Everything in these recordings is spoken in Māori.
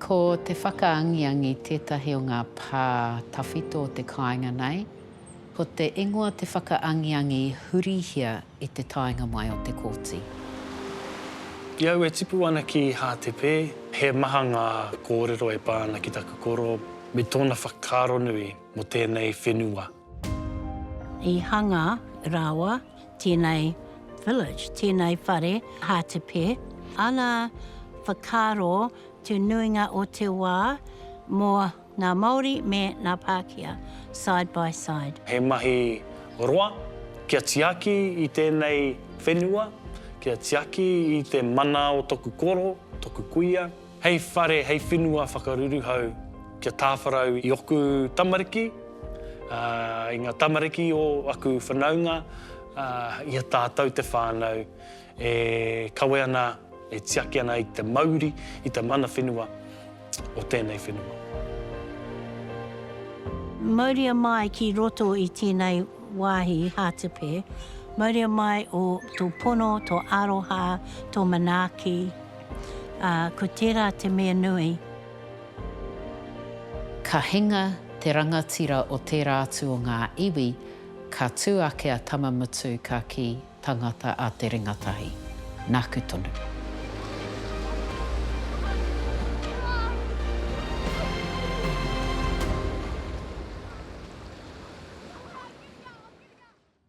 Ko te whakaangiangi tētahi o ngā pā tawhito o te kāinga nei. Ko te ingoa te whakaangiangi hurihia i te taenga mai o te kōti. I au e tipu ana ki Hātepe. He maha ngā kōrero e pā ana ki taku koro me tōna whakaaronui mō tēnei whenua. I hanga rāua tēnei village, tēnei whare hātepe, ana whakaaro te nuinga o te wā mō ngā Māori me ngā Pākehā, side by side. He mahi roa kia tiaki i tēnei whenua, kia tiaki i te mana o toku koro, toku kuia. Hei whare, hei whenua whakaruruhau kia tāwharau i oku tamariki, ā, i ngā tamariki o aku whanaunga, ā, i a tātou te whānau e kawe ana, e tiaki ana i te mauri, i te mana whenua o tēnei whenua. Mauria mai ki roto i tēnei wāhi hātepe, mauria mai tō pono, tō aroha, tō manaaki. ā, ko tērā te mea nui. Ka hinga te rangatira o tērā atu o ngā iwi, ka tū ake a Tamamutu ka kī, Tangata a Te Ringatahi. Nāku tonu.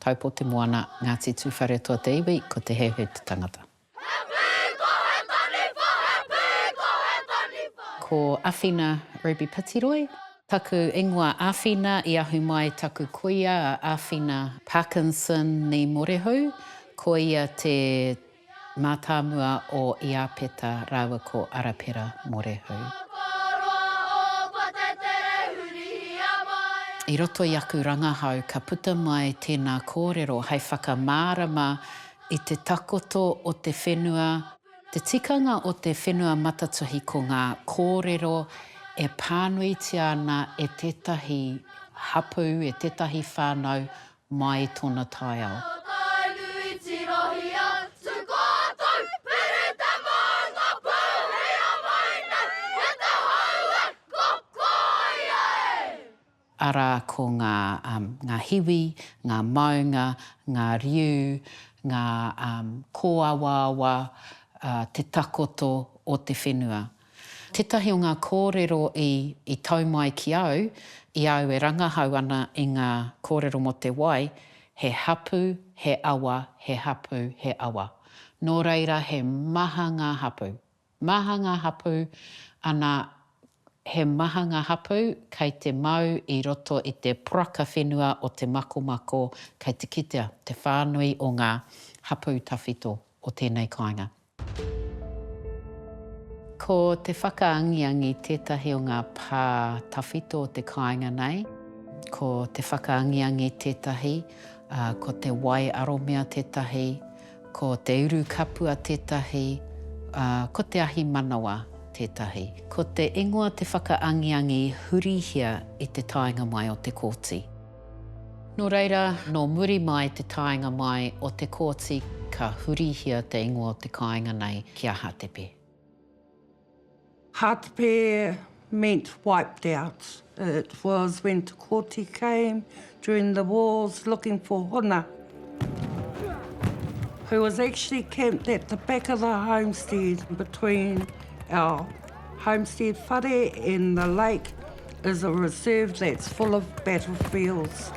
Taipo te moana, Ngati Tuwharetoa te iwi, ko Te Heuheu te tangata. He pī ko He Taniwha, He pī ko He Taniwha. Ko Awhina Ruby Pitiroi. Taku ingoa Awhina, i ahu mai taku kuia a Awhina Parkinson Ni Morehu, ko ia te Mātāmua o Iāpeta rāua ko Arapera Morehou. I roto i aku rangahau ka puta mai tēnā kōrero hai whakamārama i te takoto o te whenua, te tikanga o te whenua matatuhi ko ngā kōrero e pānuitia ana e tētahi hapū, e tētahi whānau mai tona taiao. Ngā tainui tirohia, tū koutou, piri te maunga pū, hia mai nei, e te hauē, ko koi ai! Arā ko ngā, um, ngā hiwi, ngā maunga, ngā riu, ngā, um, kōawaawa, uh, te takoto o te whenua. Tētahi o ngā kōrero i i tau mai ki au, i a au e rangahau ana i ngā kōrero mō te wai, he hapū, he awa, he hapū, he awa. Nō reira he maha ngā hapū. Maha ngā hapū, ana, he maha ngā hapū kei te mau i roto i te poraka whenua o te makomako kei te kitea te whānui o ngā hapū tawhito o tēnei kāinga. Ko te whakaangiangi tētahi o ngā pā tawhito o te kāinga nei. Ko te whakaangiangi tētahi, ā, ko te wai aromia tētahi, ko te uru kapua tētahi, ā, ko te ahi manawa tētahi. Ko te ingoa te whakaangiangi hurihia i te taenga mai o te kōti. Nō reira, nō muri mai te taenga mai o Te Kooti ka hurihia te ingoa o te kāinga nei ki a Hātepe. Hātepe meant wiped out. It was when Te Kooti came during the wars looking for Hona, who was actually camped at the back of the homestead between our Homestead Whare in the Lake is a reserve that's full of battlefields.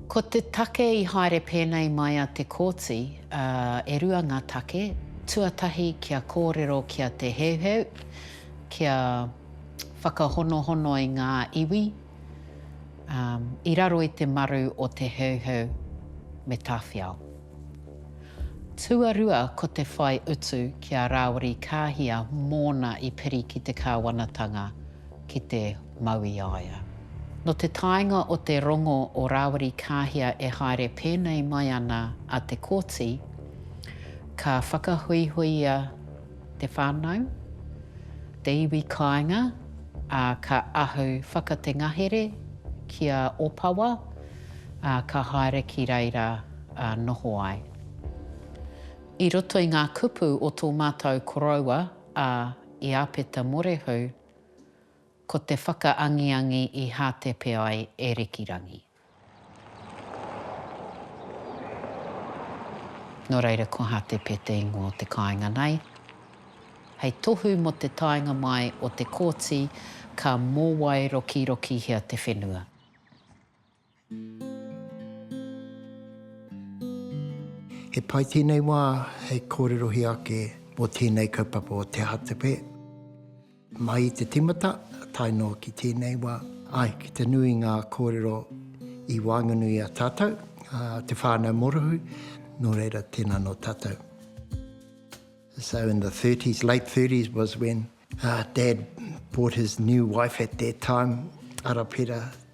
Ko te take i haere pēnei mai a Te Kooti, ā, e rua ngā take, tuatahi kia kōrero ki a Te Heuheu, kia whakahonohono i ngā iwi, i raro i te maru o Te Heuheu me Tawhiao. Tuarua ko te whai utu ki a Rāwiri Kāhia mōna i piri ki te kāwanatanga ki te mau i a ia. Nō te taenga o te rongo o Rāwiri Kāhia e haere pēnei mai ana a Te Kooti, ka whakahuihuia te whānau, te iwi kāinga, ā, ka ahu whakatengahere ki a Opawa, ā, ka haere ki reira ā noho ai. I roto i ngā kupu o tō mātou koroua a Iāpeta Morehu, ko te whakaangiangi i hātepe ai e Rikirangi. Nō reira ko Hātepe te ingoa o te kāinga nei. Hei tohu mō te taenga mai o Te Kooti ka mōwai rokirokihia te whenua. He pai tēnei wā hei kōrerohia ake mō tēnei kaupapa o Te Hātepe. Mai i te timata tae noa ki tēnei wā, āe, ki te nui i ngā kōrero i waenganui i a tātou, te whānau morohui, nō reira, tēnā nō tātou. So in the 30s, late 30s was when Dad bought his new wife at that time, Arapera,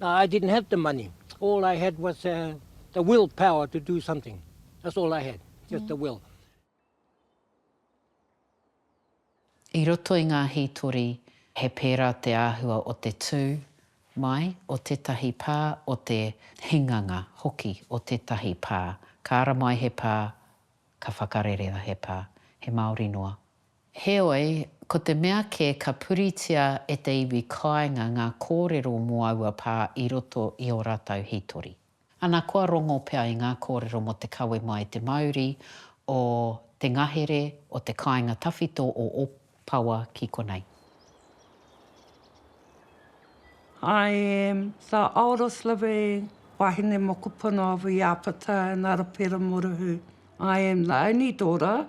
I didn't have the money, all I had was the will power to do something, that's all I had, just the will. I roto i ngā hītori, he pērā te āhua o te tū mai o tētahi pā, o te hinganga hoki o tētahi pā. Ka ara mai he pā, ka whakarere he pā, he māori noa, Heoi, ko te mea kē ka puritia e te iwi kāinga ngā kōrero mō aua pā i roto i ō rātou hītori. Ana kua rongo pea i ngā kōrero mō te kawe mai i te mauri o te ngahere o te kāinga tawhito o Opawa ki konei. I am the oldest living wahine mokopuna of Iāpata and Arapera Moruhu. I am the only daughter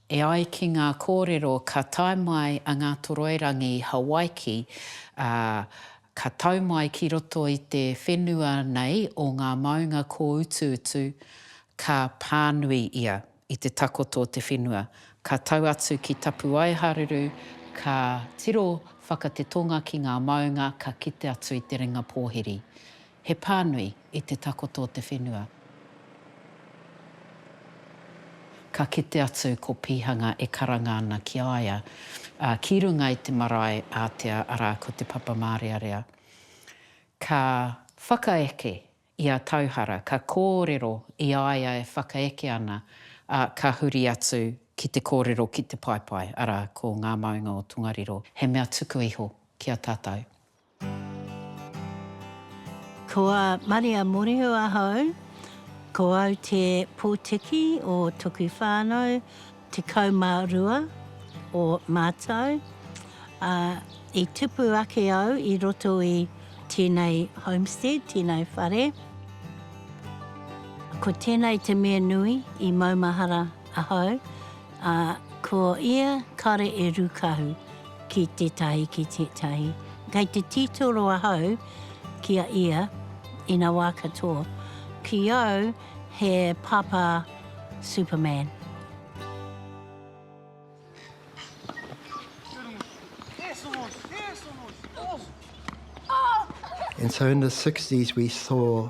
E ai ki ngā kōrero ka tae mai a Ngātoroirangi i Hawaiki, ā, ka tau mai ki roto i te whenua nei o ngā maunga kōutuutu, ka pānui ia i te takoto o te whenua, ka tau atu ki Tapuaiharuru, ka tiro whaka te tonga ki ngā maunga ka kite atu i te ringa pōhiri. He pānui i te takoto o te whenua. Ka kite atu ko Pīhanga e karanga ana ki a ia, ā, ki runga i te marae ātea, arā, ko Te Papa Mārearea. Ka whakaeke i a Tauhara, ka kōrero i a ia e whakaeke ana, ā, ka huri atu ki te kōrero ki te paepae, arā, ko Ngā Maunga o Tongariro, he mea tuku iho ki a tātou. Ko a Maria Morihu ahau, ko au te potiki o toku whanau, tekau ma rua o matou, a, i tupu ake au i roto i tenei homestead, tenei whare. Ko tenei te mea nui i maumahara ahau, Ā, ko ia kare e rūkahu ki tētahi ki tētahi. Kei te tītoro ahau ki a ia, ina wā katoa, ki au he pāpā Superman. And so in the sixties we saw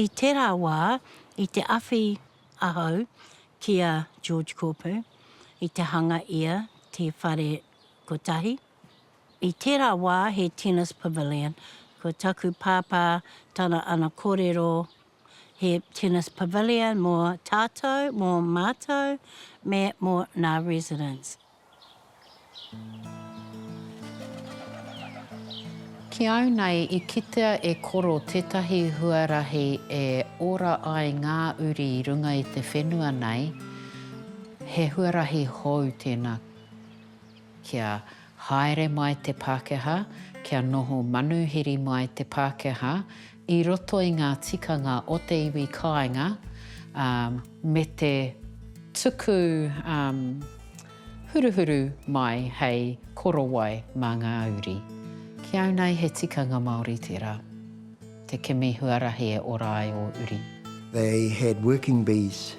I tērā wā, i te awhi ahau ki a George Kopu i te hanga ia te whare kotahi. I tērā wā he tennis pavilion, ko taku pāpā tana ana korero he tennis pavilion mō tātou, mō mātou me mō nā residents. Ki au nei i kitea e koro tetahi huarahi e ora ai nga uri i runga i te whenua nei, he huarahi hou tena kia haere mai te Pakeha, kia noho manuhiri mai te Pakeha, I roto i ngā tikanga o te iwi kāinga me te tuku huruhuru mai hei korowai mā ngā uri. Ki au nei he tikanga Māori tērā, te kimi huarahi e ora ai ō uri. They had working bees,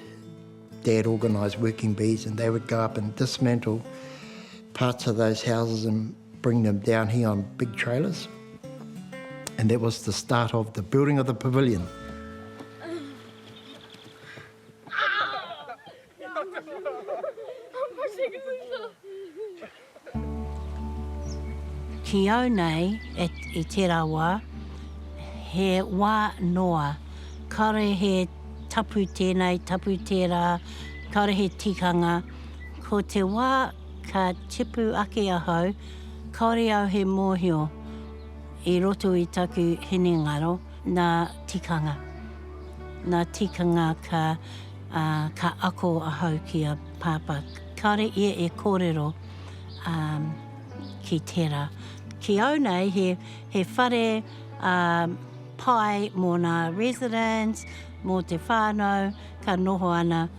Dad organised working bees and they would go up and dismantle parts of those houses and. bring them down here on big trailers and that was the start of the building of the pavilion. Ki au nei, i tērā wā, he wā noa, kāore he tapu tēnei, tapu tērā, kāore he tikanga, ko te wā, ka tipu ake ahau, kāore au he mōhio i roto i taku hinengaro, nā tikanga. Nā tikanga ka, ā, ka ako ahau ki a Pāpā. Kāore ia e kōrero, ā, ki tērā. Ki au nei, he, he whare, ā, pai mō nā residents, mō te whānau, ka noho ana.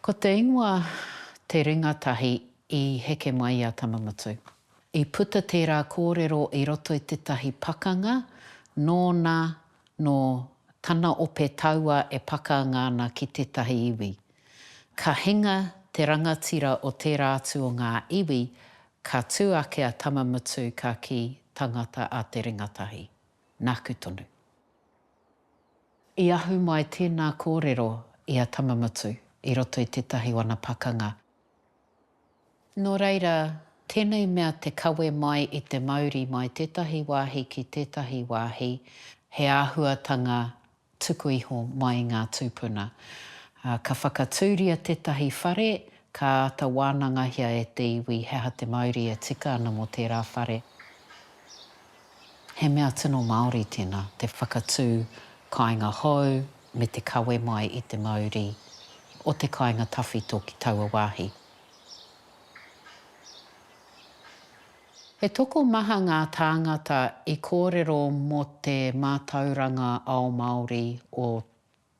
Ko te ingoa Te Ringa Tahi i heke mai i a Tamamutu. I puta tērā kōrero i roto i tētahi pakanga nōna nō tana ope taua e pakanga ana ki tētahi iwi. Ka hinga te rangatira o tērā atu o ngā iwi, ka tū ake a Tamamutu ka kī, Tangata a Te Ringa Tahi. Nāku tonu. I ahu mai tēnā kōrero i a Tamamutu i roto i tētahi wana pakanga. Nō reira, tēnei mea te kawe mai i te mauri mai tētahi wāhi ki tētahi wāhi, he āhuatanga tuku iho mai i ngā tūpuna. Ka whakatūria tētahi whare, ka āta wānangahia e te iwi he aha te mauri e tika ana mō tērā whare. He mea tino Māori tēnā, te whakatū kāinga hou me te kawe mai i te mauri o te kāinga tawhito ki taua wāhi. He tokomaha ngā tāngata i kōrero mō te mātauranga ao Māori o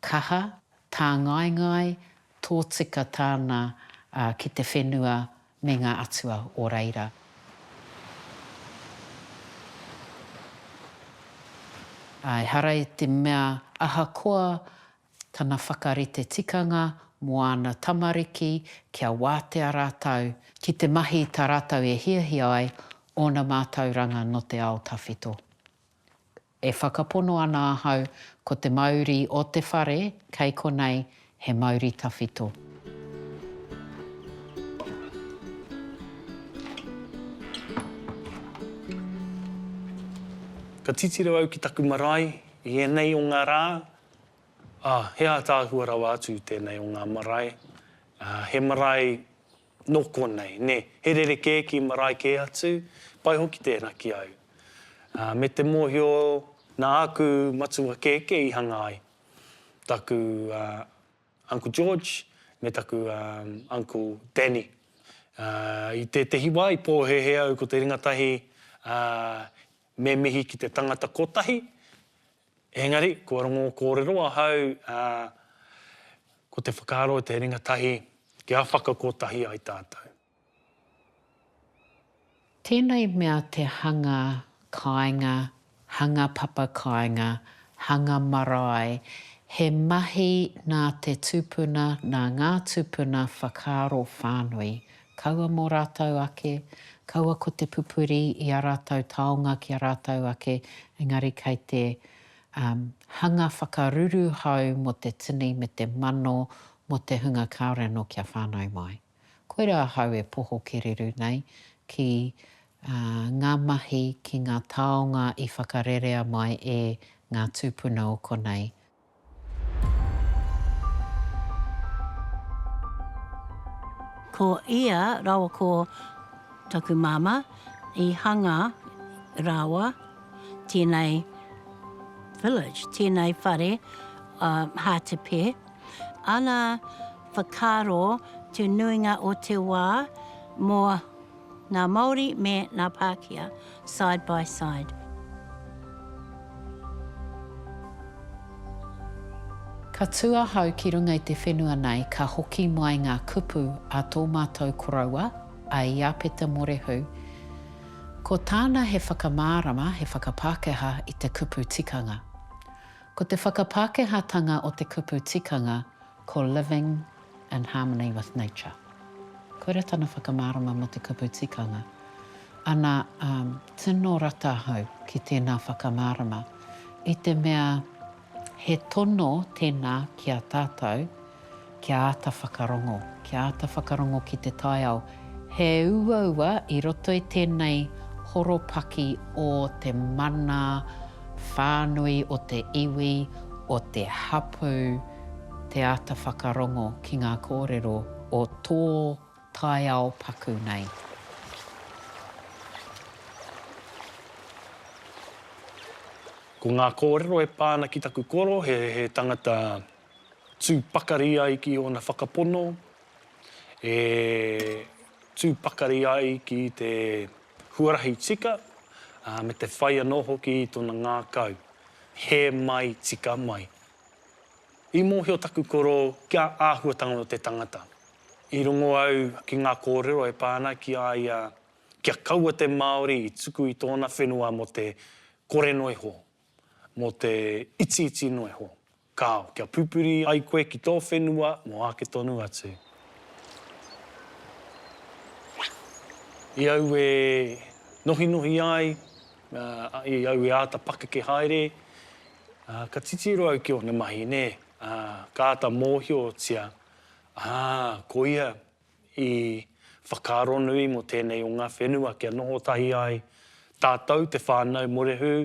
Kaha, tāngaengae, tōtika tāna ki te whenua me ngā atua o reira. Ehara i te mea ahakoa tana whakarite tikanga mō āna tamariki kia wātea rātou ki te mahi tā rātou e hiahia ai ōna mātauranga nō te ao tawhito. E whakapono ana ahau ko te mauri o te whare kei konei he mauri tawhito. Ka titiro au ki taku marae i ēnei o ngā rā, ā, he ātaahua rawa atu tēnei o ngā marae. He marae Nō konei, nē, he rerekē ki marae kē atu, pai hoki tērā ki au. Ā, me te mōhio nā āku matua kēkē i hanga ai, taku, ā, Uncle George me taku, ā, Uncle Danny. Ā, i tētehi wā i pōhēhē au ko te ringa tahi, ā, me mihi ki te tangata kotahi, Engari, kua rongo kōrero ahau, ā, ko te whakaaro o te ringa tahi, kia whakakotahi ai tātou. Tēnei mea te hanga kāinga, hanga papa kāinga, hanga marae, he mahi nā te tupuna, nā ngā tupuna whakaaro whānui, Kaua mō rātou ake, kaua ko te pupuri i ā rātou taonga ki a rātou ake, engari kei te um, hanga whakaruru hou mō te tini me te mano mō te hunga kāore anō kia whānau mai. Koirā ahau e poho kereru nei ki uh, ngā mahi, ki ngā taonga i whakarerea mai e ngā tūpuna o konei, Ko ia rawa ko taku mama i hanga rawa tenei village, tenei whare a Hatepe, ana whakaro te nuinga o te wa mo Ngā Māori me ngā Pākehā, side by side. Ka tū ahau ki runga i te whenua nei ka hoki mai ngā kupu a tō mātou koroua, a Iāpeta Morehu. Ko tāna he whakamārama, he whakapākehā i te kupu tikanga. Ko te whakapākehātanga o te kupu tikanga, ko Living in Harmony with Nature. Koira tana whakamārama mō te kupu tikanga. Ana, um, tino rata ahau ki tēnā whakamārama, i te mea he tono tēnā ki a tātou kia āta whakarongo, kia āta whakarongo ki te taiao He uaua i roto i tēnei horopaki o te mana whānui, o te iwi, o te hapū, te āta whakarongo ki ngā kōrero o tō taiao paku nei. Ko ngā kōrero e pā ana ki taku koro, he tangata tū pakari ai ki ōna whakapono, e tū pakari ai ki te huarahi tika, ā, me te whai anō hoki i tōna ngākau, hē mai, tika mai. I mōhio taku koro kia āhuatanga o te tangata. I rongo au ki ngā kōrero e pā ana ki a ia kia kaua te Māori i tuku i tōna whenua mō te kore noa iho, mō te itiiti noa iho, Kāo, kia pupuri ai koe ki tō whenua mō āke tonu atu. I au e nohinohi ai, i au e āta pakeke haere, ā, ka titiro au ki ōna mahi, nē, ā, ka āta mōhiotia, ā, ko ia i whakaaro nui mō tēnei o ngā whenua kia noho tahi ai tātou, te whānau, Morehū,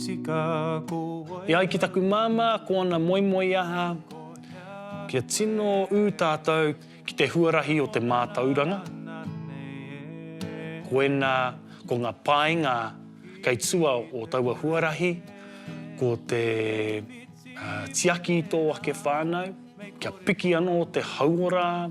E ai ki taku māmā ko ana moemoeaha kia tino ū tātou ki te huarahi o te mātauranga, koinā ko ngā painga kei tua o taua huarahi ko te tiaki i tō ake whānau, kia piki anō te hauora,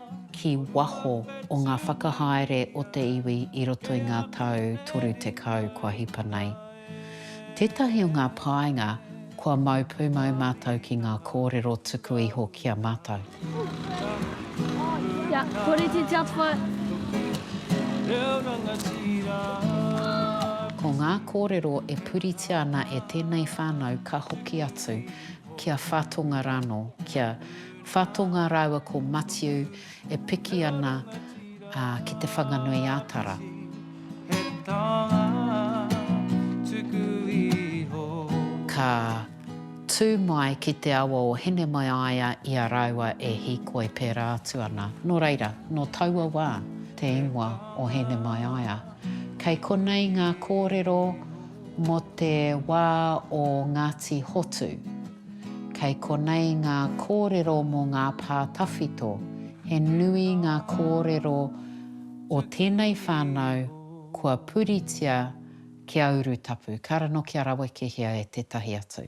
ki waho o ngā whakahaere o te iwi i roto i ngā tau 30 kua hipa nei. Tētahi o ngā painga kua mau pūmau mātou ki ngā kōrero tuku iho ki a mātou. Ko ngā kōrero e puritia ana e tēnei whānau ka hoki atu ki a Whatonga rānō, ki a. Whatonga rāua ko Matiu e piki ana ki Te Whanganui-ā-Tara. Ka tū mai ki te awa o Hinemaiaia i a rāua e hīkoi pērā atu ana. Nō reira, nō taua wā te ingoa o Hinemaiaia. Kei konei ngā kōrero mō te wā o Ngāti Hotu. Kei konei ngā kōrero mō ngā pā tawhito. He nui ngā kōrero o tēnei whānau kua puritia ki a Urutapu. Ka rano kia rawekehia e tētahi atu.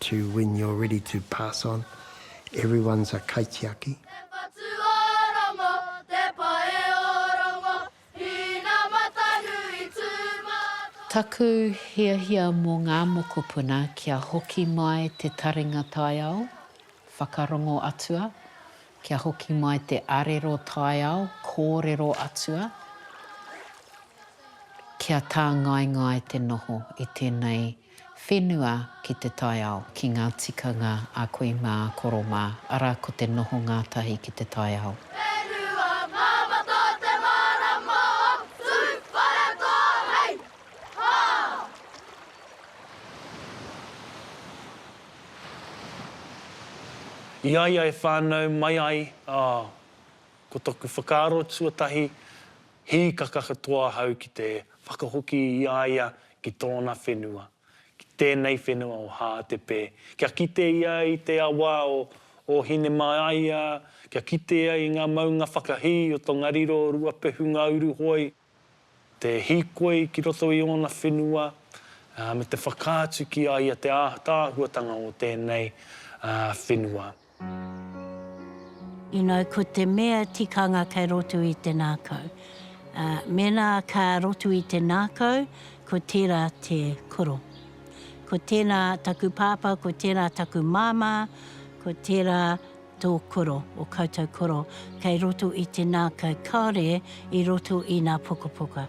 To when you're ready to pass on Everyone's a kaitiaki. Te patu o rongo, te pae o rongo Hina matanui tū mātau. Taku hiahia mō ngā mokopuna kia hoki mai te taringa taiao, whakarongo atua, kia hoki mai te arero taiao, kōrero atua, kia tāngaengae te noho i tēnei Whenua ki te taiao, ki ngā tikanga a kui mā, a koro mā, arā ko te noho ngātahi ki te taiao. Whenua mā Mata te mārama o Tūwharetoa hei hā! I a ia e whānau mai ai, ā, ko taku whakaaro tuatahi, hīkaka katoa ahau ki te whakahoki i a ia ki tōna whenua, ki tēnei whenua o Hātepē, kia kite ia i te awa o o Hinemāia, kia kite ia i ngā maunga whakahī o Tongariro, Ruapehu, Ngāuruhoi, te hīkoi ki roto i ōna whenua, ā, me te whakaatu ki a ia te ātaahuatanga o tēnei, ā, whenua. You know, ko te mea tikanga kei roto i te ngākau. Ā, mēnā ka roto i te ngākau, ko tērā te koro. Ko tēnā taku pāpā, ko tērā taku māmā, ko tērā tō koro, ō koutou koro, kei roto i te ngākau kāore i roto i ngā pukapuka.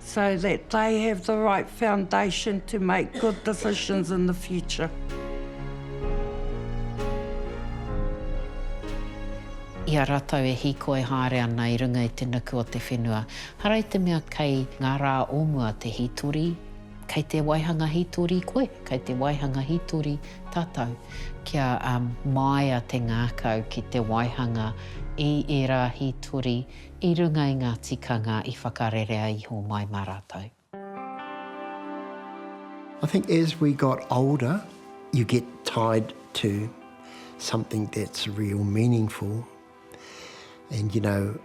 so that they have the right foundation to make good decisions in the future. I a rātou e hīkoi haere ana i runga i te nuku o te whenua, hara i te mea kei ngā rā o mua te hītori, kei te waihanga hītori koe, kei te waihanga hītori tātou, kia māia te ngākau ki te waihanga i ērā hītori, i runga i ngā tikanga i whakarerea iho mai mā rātou. I think as we got older, you get tied to something that's real meaningful and you know,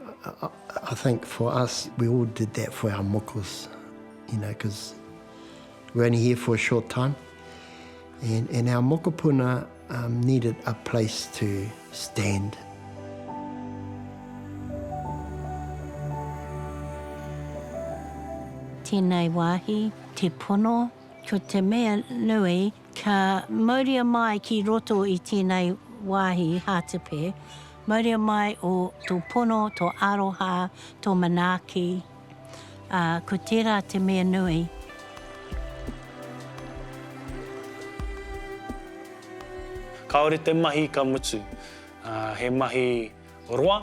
I think for us, we all did that for our moko's, you know, because we're only here for a short time and our mokopuna, Um needed a place to stand. Tēnei wāhi, te pono, ko te mea nui, ka mauria mai ki roto i tēnei wāhi hātepe, mauria mai o tō pono, tō aroha, tō manaaki, Ā, ko tērā te mea nui. Kāore te mahi ka mutu. Ā, he mahi roa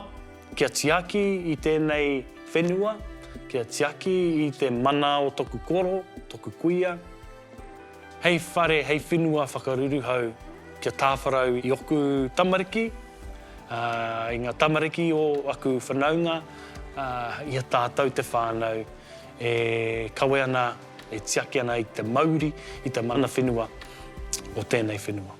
kia tiaki i tēnei whenua, kia tiaki i te mana o toku koro, toku kuia. Hei whare, hei whenua whakaruruhau kia tāwharau i oku tamariki, i ngā tamariki o aku whanaunga, i a tātou te whānau e kawe ana, e tiaki ana i te mauri, i te mana whenua o tēnei whenua.